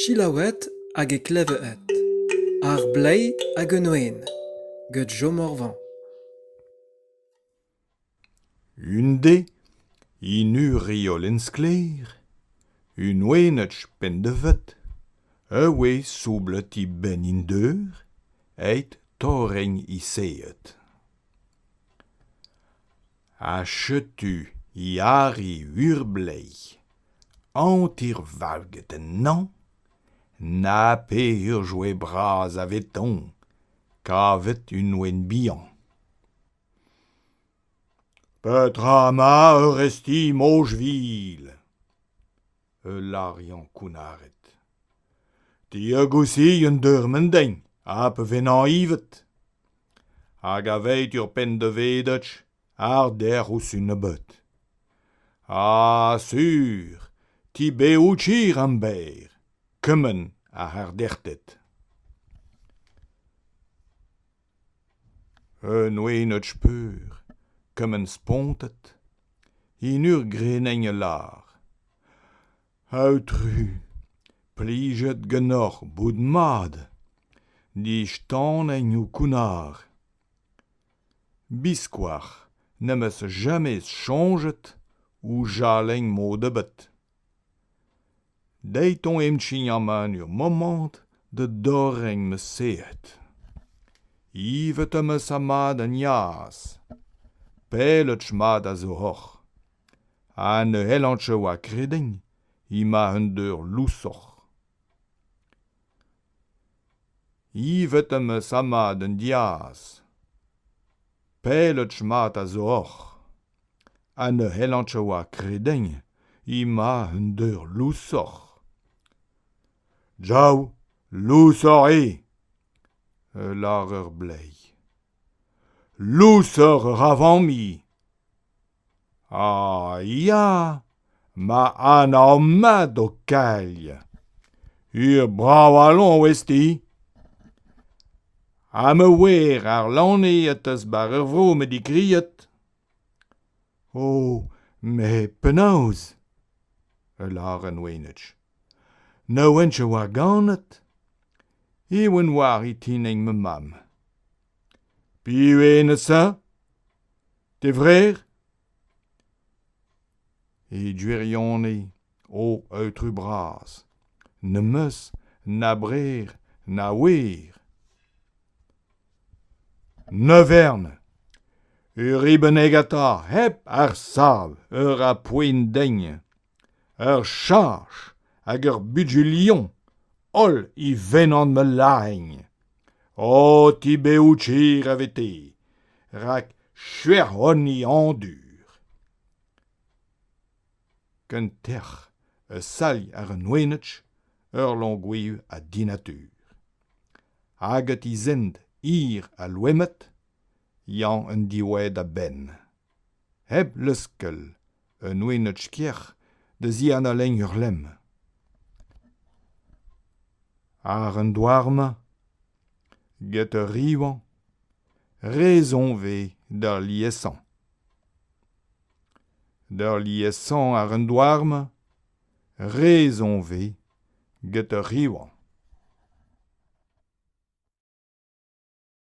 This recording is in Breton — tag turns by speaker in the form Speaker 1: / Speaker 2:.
Speaker 1: Selaouet hag e klevet ar bleiz hag un wen get Jo Morvan.
Speaker 2: Un de, in uriolin sklaer, un wened pendevet, a oe soublet he benn in deur, eit torreng he seet. ha setu Yari Urbleiz, hanter-valget ennañ, na peger joe bras avetoñ kavet un ouenn bihan. Petra 'ma ur resti Mojvil ? ul lariañ kounnaret diagousiien deurmen din ha pa vennañ ivet hag aveit ur penn-da-vedach arder ouzh nebeut ah sur ti beouchir am berr kement a arderted Un oenad-speur, kement spontet, en ur greneñ a lar. Aotru, plijet ganeoc'h bout mat, distaneiñ ho kounnar. Biskoazh n'em eus jamais soñjet ho chalenn mod ebet. Deit on emchign aman ur momant da dorren ma sehed. Ivet am eus amad an yaz. Pelloch mat a zo oc'h. Ha ne c'hellan cho oa kreden ema un deur lousoc'h. Ivet am eus amad an diaz. Pelloch mat a zo oc'h. ha ne c'hellan oa kredenn emañ un deur lousoc'h. Jav lousoc'h eo! a lâr ur bleiz. Lousoc'h ra familh! Ah ya, ma anav mat ho kailh. Ur bravalon ouez-ti? Ha ma wer ar lane a-tas 'bar ur vro met digriet. O, met penaos? a lâran Wenitch. Ne ouench a oa ganet ? Ewen oar e tinig ma mamm. Piv eo Nesa ? D'e vreur ? E gwirionez, O aotrou bras, n'em eus na brer na wer. Ne vern. Ur ribennegata hep ar sav, ur apoint degn, ur charch hag ur bugilion, holl i vennan ma lahegn. O ti bev chir a vete, rak chuec'h honi andur. Ken tec'h, ur salh àr un wenaj, ur loñgoù ha dinatur. Hag e tizhent hir ha loened, Yann en diwezh da-benn. Hep leuskel, un wenaj krec'h da zianalenn ur lemm. Àr an douar-mañ, get ur rivañ, re soñj eo d'ar liesañ. Peurliesañ àr an douar-mañ re zoñv eo get ur rivañ.